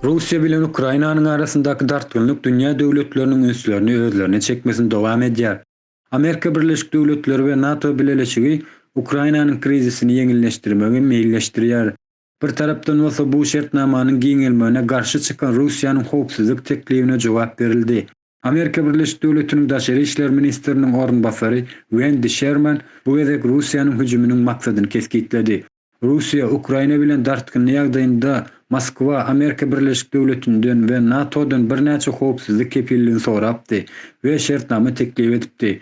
Russiýa bilen Ukrainanyň arasyndaky dartgynlyk dünýä döwletleriniň ünslerini özlerine çekmesini dowam edýär. Amerika Birleşik Döwletleri we NATO bileleşigi Ukrainanyň krizisini ýeňilleşdirmegi meýilleşdirýär. Bir tarapdan bolsa bu şertnamanyň giňelmegine garşy çykan Russiýanyň howpsuzlyk teklibine jogap berildi. Amerika Birleşik Döwletiniň daşary işler ministriniň orunbasary Wendi Şerman bu gezek Russiýanyň hüjüminiň maksadyny kesgitledi. Russiýa Ukraina bilen dartgynly ýagdaýynda Moskwa Amerika Birleşik Döwletinden we NATO-dan birnäçe howpsuzlyk kepilligini sorapdy we şertnama teklip edipdi.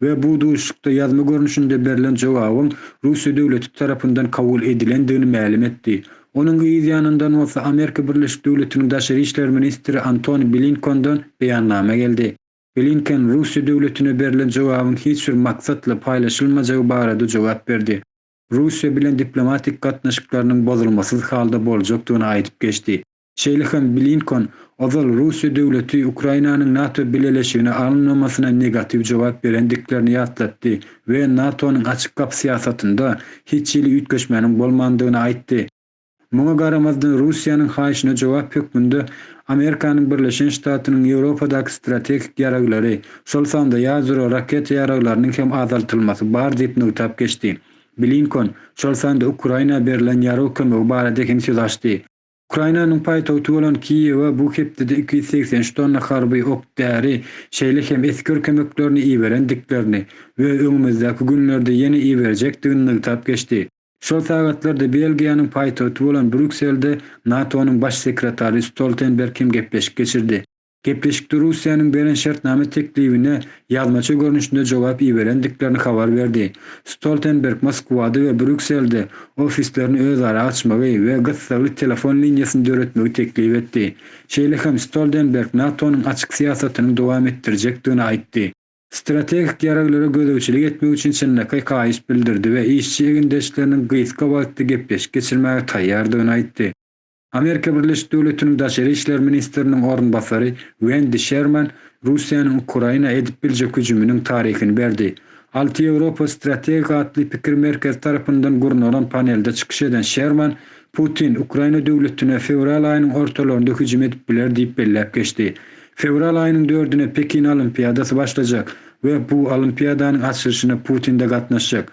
we bu duşuşykda ýazma görnüşinde berlen jogabyň Russiýa döwleti tarapyndan kabul edilendigini mälim etdi. Onuň yz ýanyndan bolsa Amerika Birleşik Döwletiniň daşary işler ministri Antoni Blinkondan beýannama geldi. Blinken Russiýa döwletine berlen jogabyň hiç bir maksatly paýlaşylmajagy barada jogap berdi. Russiýa bilen diplomatik gatnaşyklarynyň bozulmasyz halda boljakdygyny aýdyp geçdi. Şeýle hem Blinkon ozal Russiýa döwleti Ukrainanyň NATO bileleşigine alynmamasyna negatiw jogap berendiklerini ýatlatdy we NATO-nyň açyk gapy syýasatynda hiç hili üýtgeşmäniň bolmandygyny aýtdy. Muňa garamazdan Russiýanyň haýyşyna jogap hökmünde Amerikanyň Birleşen Ştatynyň Ýewropadaky strategik ýaraglary, şol sanda ýadro raketa ýaraglarynyň hem azaltylmasy bar diýip nygtap geçdi. Blinkon şol sanda Ukraina berilen ýarag kömegi barada hem söz açdy. Ukrainanyň paýtagty bolan Kiýewe bu hepdede iki ýüz segsen üç tonna harby ok-däri, şeýle hem esger kömeklerini iberendiklerini we öňümizdäki günlerde ýene iberjekdigini nygtap geçdi. Şol sagatlarda Belgiýanyň paýtagty bolan Brýukselde NATO-nyň Baş sekretary Stoltenberg hem gepleşik geçirdi. Gepleşikde Russiýanyň beren şertnama teklibine ýazmaça görnüşinde jogap iberendiklerini habar berdi. Stoltenberg Moskwada we Brýukselde ofislerini özara açmagy we gyssagly telefon liniýasyny döretmegi teklip etdi. Şeýle hem Stoldenberg NATO-nyň açyk syýasatynyň dowam etdirjekdigini aýtdy. Strategik ýaraglara gözegçilik etmek üçin çynlakaý haýyş bildirdi we işçi egindeşleriniň gysga wagtda gepleşik geçirmäge taýýardygyny aýtdy. Amerika Birleşik Döwletiniň daşary işler ministriniň orunbasary Wendi Şerman Russiýanyň Ukraina edip biljek hüjüminiň taryhyny berdi. Alty Ýewropa strategik atly pikir merkezi tarapyndan gurnalan panelde çykyş eden Şerman, Putin Ukraina döwletine fewral aýynyň ortalarynda hüjüm edip biler diýip belläp geçdi. Fewral aýynyň dördüne Pekin Olimpiadasy başlajak we bu Olimpiadanyň açylyşyna Putin-de gatnaşjak.